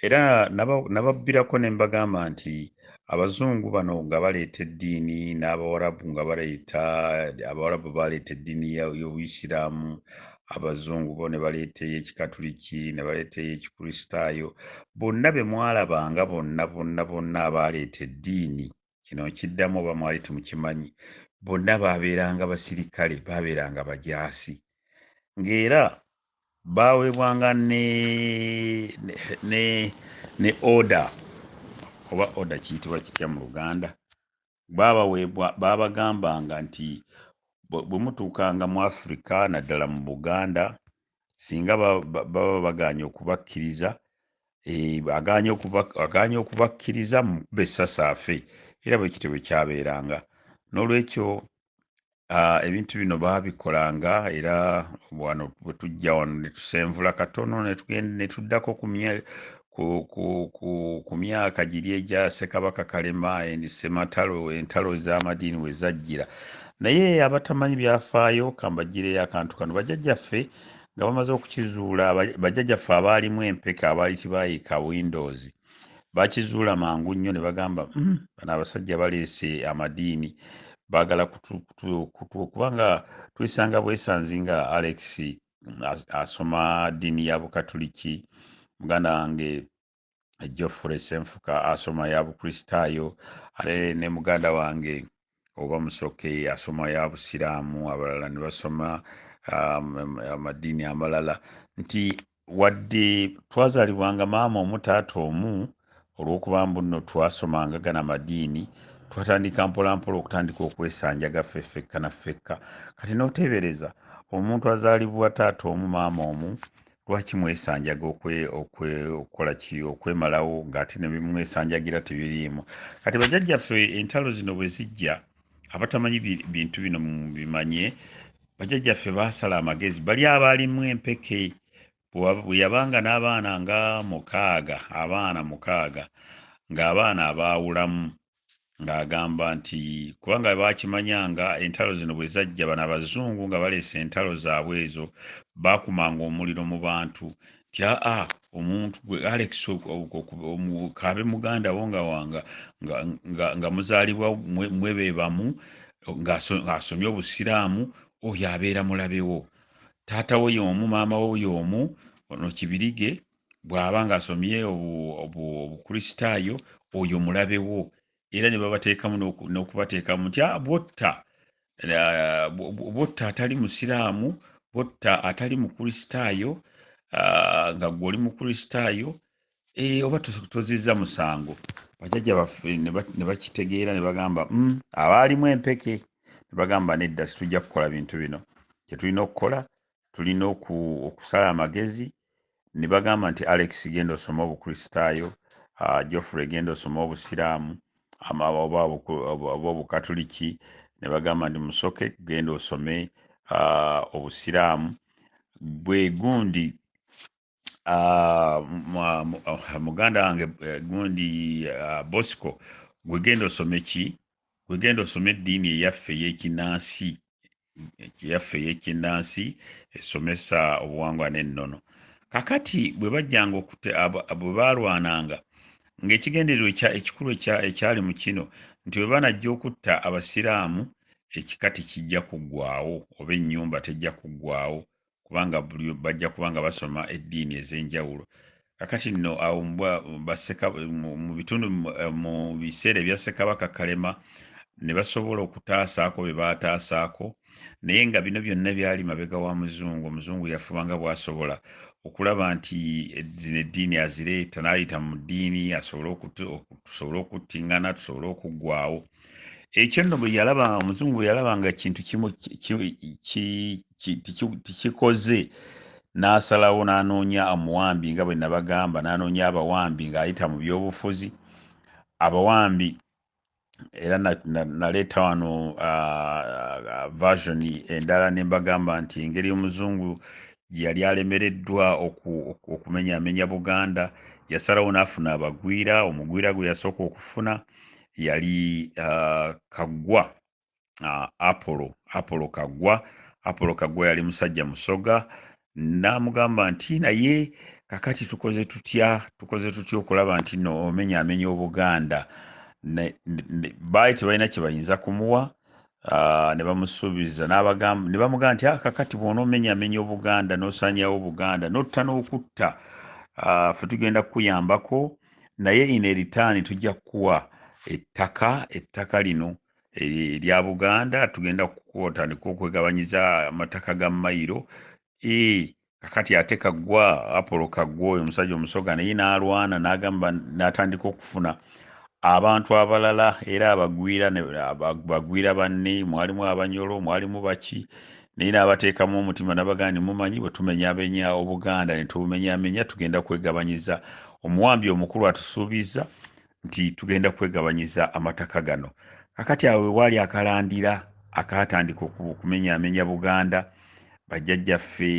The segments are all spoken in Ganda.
Era nababbirako ne mbagamba nti abazungu bano nga baleeta eddiini n'abawarabu nga baleeta abawarabu baleeta eddiini y'obuyisiraamu abazungu bo ne baleeta ey'ekikatuliki ne baleeta ey'ekikristaayo bonna be mwalabanga bonna bonna bonna abaaleeta eddiini kino nkiddamu oba mwali temukimanyi bonna baabeeranga basirikale baabeeranga bajaasi ng'era baaweebwanga ne ne ne oda oba oda kiyitibwa kitya mu luganda baabaweebwa baabagambanga nti bwe mutuukanga mu afirika naddala mu buganda singa baba baganye okubakkiriza eh, aganye okubakkiriza mukuba essasi afe era bwe kityo bwe kyabeeranga n'olwekyo ah, ebintu bino baabikolanga era wano bwe tujja wano ne tusenvula katono ne tudakkokubya ku, ku, ku, ku myaka giri egya sekabaka kalema endi sematalo entalo ez'amadiini we zajjira naye abatamanyi byafaayo kambagireyo akantu kano bajajjaffe nga bamaze okukizuula bajajjaffe abaalimu empeke abaali kibaayika windows bakizuula mangu nnyo ne bagamba mm, bano abasajja baleese amadiini baagala kubanga tuyisanga bwesanzi nga alex asoma ddiini ya bukatuliki muganda wange geoffrey senfuka asoma ya bukristaayo ate ne muganda wange oba musoke asoma ya busiraamu abalala ne basoma um, amadiini amalala nti wadde twazalibwanga maama omu taata omu olw'okuba mbu nno twasomanga gana madiini twatandika mpolampola okutandika okwesanjaga ffe ffekka na ffekka kati n'oteebereza omuntu azaalibwa taata omu maama omu lwaki mwesanjaga okukola ki okwemalawo ng'ate ne bimwesanjagira tebiriimu kati bajajjaffe entalo zino bwe zijja abatamanyi bintu bino bimanye bajajjaffe baasala amagezi bali abaalimu empeke bwe yabanga n'abaana nga mukaaga abaana mukaaga ng'abaana abaawulamu ng'agamba nti kubanga baakimanya nga entalo zino bwe zajja bano abazungu nga baleese entalo zaabwe ezo baakumanga omuliro mu bantu nti aa omuntu gwe alex kaabe muganda wo nga wanga nga muzaalibwa mwe be bamu ng'asomye obusiraamu oyo abeera mulabewo taata wo y'omu maama wo y'omu ono kibirige bw'aba ng'asomye obukristaayo oyo mulabe wo era ne babateekamu n'okubateekamu nti ah, bwotta ah, bwotta atali musiraamu bwotta atali mukristaayo ah, nga gwe oli mukristaayo eh, oba tozizza musango bajajja baffe ne bakitegeera ne bagamba mm, abaalimu empeke ne bagamba nedda situjja kukola bintu bino kyetulina okukola tulina okusala amagezi ne bagamba nti alex genda osome obukristaayo ah, geoffrey genda osome obusiraamu oba obukatuliki ne bagamba nti musoke genda osome ah, obusiraamu bwe gundi ah, ah, muganda wange eh, gundi ah, bosco gwegenda osome ki gwegenda osome eddiini eyaffe eyekinansi eyaffe eyekinansi esomesa obuwangwa n'ennono kakati bwe bajjanga okute bwe baalwananga ng'ekigendererwa ekikulu ekyali mu kino nti bwe banajja okutta abasiraamu ekika tekijja kuggwawo oba ennyumba tejja kuggwawo kubanga buli bajja kuba nga basoma eddiini ez'enjawulo kakati nno awo mu bitundu eh, mu biseera ebya ssekabaka kalema ne basobola okutaasaako bye baataasaako naye nga bino byonna byali mabega wa muzungu omuzungu yafuba nga bwasobola okulaba nti eh, zino eddiini azireeta n'ayita mu ddiini asobole okutusobole okuttingana tusobole okuggwawo ekyo nno bwe yalaba omuzungu bwe yalaba nga kintu kimu tikikoze n'asalawo n'anoonya omuwambi nga bwe nabagamba n'anoonya abawambi ng'ayita mu byobufuzi abawambi era naleeta wano version endala ne mbagamba nti engeri omuzungu gye yali alemereddwa okumenyaamenya buganda yasalawo n'afuna abagwira omugwira gwe yasooka okufuna yali uh, kaggwa uh, apollo apollo kaggwa apollo kaggwa yali musajja musoga n'amugamba nti naye kakati tukoze tutya tukoze tutya okulaba nti no omenyaamenya obuganda baali tebalina kye bayinza kumuwa Ah, ne bamusuubiza n'abagamba ne bamugamba nti aka ah, kati bw'onoomenyamenya obuganda n'osanyawo obuganda n'otta n'okutta ah, ffe tugenda kukuyambako naye ine ritaani tujja kukuwa ettaka ettaka lino erya buganda tugenda kukutandika okwegabanyiza amataka ga mayiro e, kakati ate kagwa apolo kagwa oyo omusajja omusoga naye n'alwana n'agamba n'atandika okufuna abantu abalala era abagwira bagwira banne mwalimu abanyolo mwalimu baki naye n'abateekamu omutima nabagandi mumanyi bwe tumenyamenya obuganda ne tubumenyamenya tugenda kwegabanyiza omuwambi omukulu atusuubizza nti tugenda kwegabanyiza amataka gano kakati awo wewaali akalandira akaatandika okumenyaamenya buganda bajjajjaffe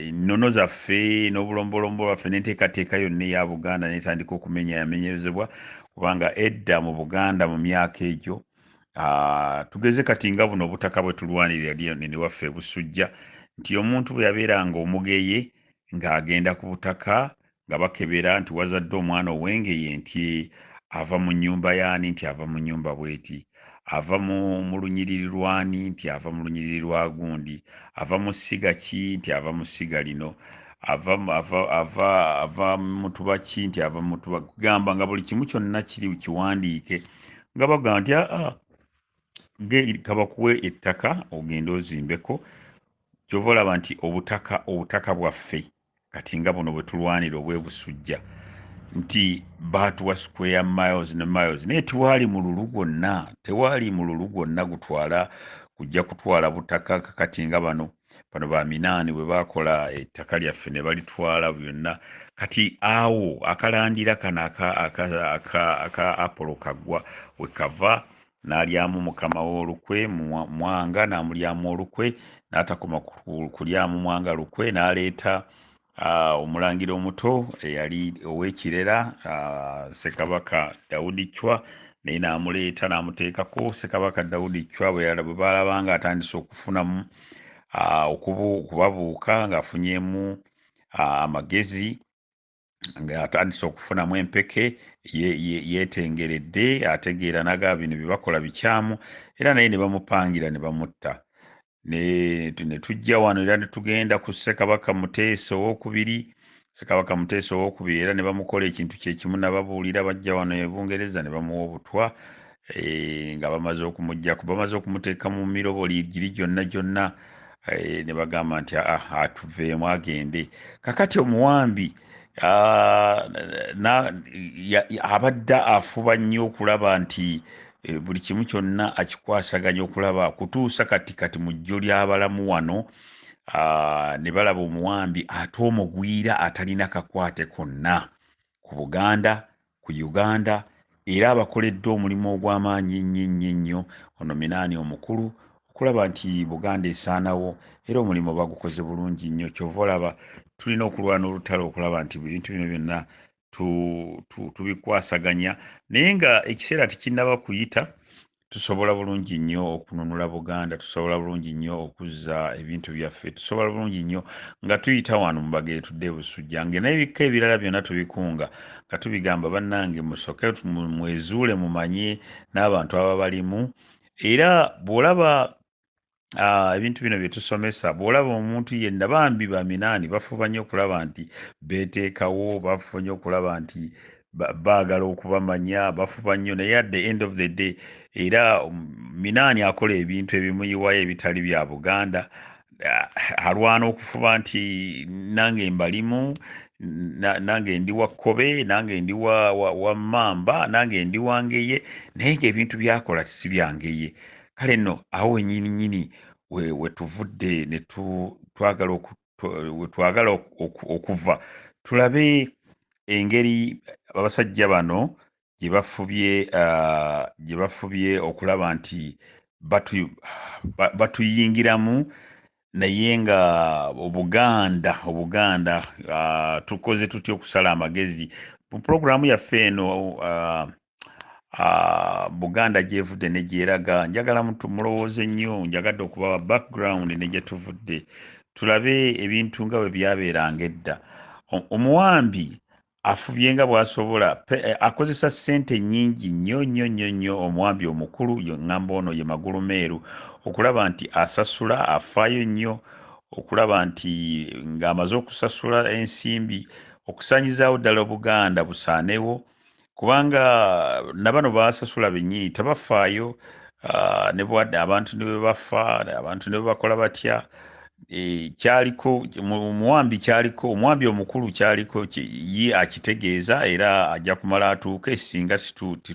ennono zaffe n'obulombolombo lwaffe n'enteekateeka yonna eya buganda netandika okumenyaamenyezebwa kubanga edda mu buganda mu myaka egyo tugeze kati nga buno obutaka bwe tulwanirira lionene waffe ebusujja nti omuntu bwe yabeeranga omugeye ng'agenda ku butaka nga bakebera nti wazadde omwana owengeye nti ava mu nyumba yaani nti ava mu nyumba bweti ava mu lunyiriri lwani nti ava mu lunyiriri lwa gundi ava mu ssiga ki nti ava mu ssiga lino ava ava ava ava mutuba ki nti ava mutuba kugamba nga buli kimu kyonna kiri kiwandiike nga bagamba nti aa ah, ah, kabakuwe ettaka ogende ozimbeko kyova olaba nti obutaka obutaka bwaffe kati nga buno bwetulwanira obwebusujja nti baatuwa square miles ne miles naye tewaali mululu gwonna tewaali mululu gwonna gutwala kujja kutwala butaka kakati nga bano bano baminaani bwe baakola ettaka lyaffe ne balitwala byonna kati awo akalandira kano aka apolo kaggwa wekava n'alyamu mukama we olukwe mwanga n'amulyamu olukwe n'atakoma kulyamu mwanga lukwe n'aleeta omulangira omuto eyali ow'ekirera ssekabaka dawudi chwa naye n'amuleeta n'amuteekako ssekabaka dawudi chwa bwe baalaba nga atandise okufunamu okubabuuka ng'afunyemu amagezi ng'atandise okufunamu empeke yeetengeredde ye, ye ategeera naga bino bye bakola bikyamu era naye ne bamupangira ne bamutta ne tujja wano era ne tugenda ku ssekabaka muteesa owokubiri ssekabaka muteesa owokubiri era ne bamukola ekintu kye kimu nababuulira bajja wano e bungereza ne bamuwa obutwa eh, nga bamaze okumujjako bamaze okumuteeka mu miroboli giri gyonna gyonna eh, ne bagamba nti ah, ah, atuveemu agende kakati omuwambi ah, abadde afuba nnyo okulaba nti eh, buli kimu kyonna akikwasaganya okulaba kutuusa kati kati mu jjo ly'abalamu wano Ah, ne balaba omuwambi ate omugwira atalina kakwate konna ku Buganda, ku Uganda era abakoledde omulimu ogw'amaanyi ennyo ennyo ennyo ono Minaani omukulu okulaba nti Buganda esaanawo era omulimu bagukoze bulungi nnyo kyova olaba tulina okulwana olutalo okulaba nti ebintu bino byonna tubikwasaganya naye nga ekiseera tekinnaba kuyita tusobola bulungi nnyo okununula buganda tusobola bulungi nnyo okuzza ebintu byaffe tusobola bulungi nnyo nga tuyita wano mubaga etudde ebusujja nge n'ebikka ebirala byonna tubikunga nga tubigamba bannange musoke mwezuule mumanye n'abantu ababalimu era bw'olaba Ah, ebintu bino bye tusomesa bw'olaba omuntu yenna bambi baminaani bafuba nnyo okulaba nti beeteekawo bafuba nnyo okulaba nti baagala okubamanya bafuba nnyo naye at the end of the day era um, minaani akola ebintu ebimuyiwayo ebitali bya buganda ah, alwana okufuba nti nange mbalimu nange ndi wa kkobe nange ndi wa mmamba nange ndi wangeye naye ngaebintu byakola si byangeye kale nno awo wenyini nyini wetuvudde netwagala wetwagala okuva tulabe engeri abasajja bano gyebafubye uh, gyebafubye okulaba nti batuyingiramu naye nga obuganda obuganda uh, tukoze tutya okusala amagezi mu pulogulaamu yaffe eno uh, uh, buganda gyevudde negyeraga njagala mulowooze nnyo njagadde okubawa background negyetuvudde tulabe ebintu nga bwe byabeeranga edda omuwambi afubye nga bwasobola akozesa sente nyingi nnyo nnyo nnyo nnyo omwambi omukulu ngamba ono ye magulu meeru okulaba nti asasula afaayo nnyo okulaba nti ng'amaze okusasula ensimbi okusaanyizaawo ddala obuganda busaanewo kubanga nabano basasula bennyini tebafaayo ah, ne bwadde abantu ne bwe bafa abantu ne bwe bakola batya Eh, kyaliko omuwambi kyaliko omuwambi omukulu kyaliko ye akitegeeza era ajja kumala atuuke singa